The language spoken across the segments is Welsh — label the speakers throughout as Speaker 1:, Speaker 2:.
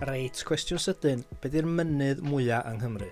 Speaker 1: Reit, cwestiwn sydyn, be di'r mynydd mwya yng Nghymru?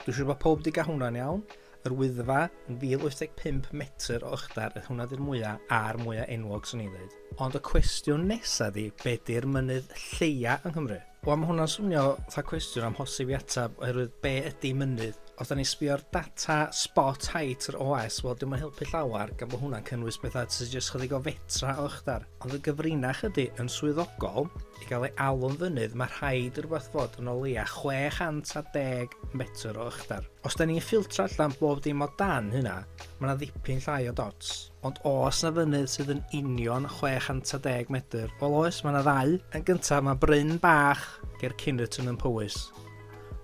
Speaker 1: Dwi'n siŵr bod pob di gael hwnna'n iawn. Yr Wyddfa yn 1085 metr o ychdar, ydy hwnna di'r mwya a'r mwya enwog swn i'n dweud. Ond y cwestiwn nesa di, be di'r mynydd lleia yng Nghymru? Wel, mae hwnna'n swnio fatha cwestiwn am hosib i atab, oherwydd be ydy mynydd? Os da ni sbio'r data spot height yr OS, wel, dim yn helpu llawer, gan bod hwnna'n cynnwys bethau sydd jyst chydig o fetra o ychdar. Ond y gyfrinach ydy, yn swyddogol, I gael ei alw'n fynydd, mae rhaid rhywbeth fod yn o leia 610 metr o ychdar. Os da ni'n ffiltro allan bob dim o dan hynna, mae yna ddipyn llai o dots. Ond os na fynydd sydd yn union 610 metr, wel oes, mae yna ddau. Yn gyntaf, mae bryn bach ger Cynnerton yn Powys.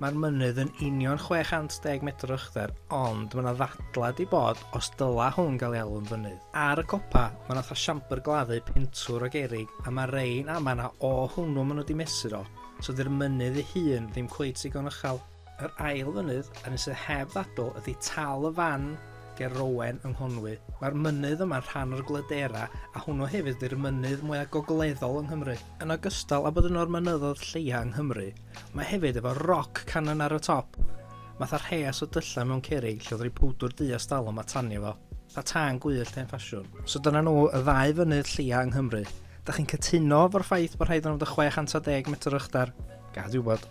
Speaker 1: Mae'r mynydd yn union 610 metr uchder, ond mae yna ddadlad i bod os dyla hwn gael ei alw'n fynydd. Ar y copa, mae yna fatha siambr gladdu pentwr o gerig, a mae rein a mae yna o hwnnw maen nhw wedi mesur o, so dy'r mynydd ei hun ddim cweit digon uchel. Yr ail fynydd, yr un sydd heb ddadl, ydy Tal y Fan ger Rowen yng Nghonwy. Mae'r mynydd yma'n rhan o'r Glydera, a hwnnw hefyd ydy'r mynydd mwyaf gogleddol yng Nghymru. Yn ogystal â bod yno'r mynyddoedd lleia yng Nghymru, Mae hefyd efo rock cannon ar y top. Matha rheas o dyllau mewn cerig lle oedd rhoi powdwr du a stalwm a tanio fo. Tha tân gwyllt hen ffasiwn. So dyna nhw y ddau fynydd lleia yng Nghymru. Da chi'n cytuno fo'r ffaith bod rhaid i nhw fod yn 610 metr o uchdar? Gad i fi wybod.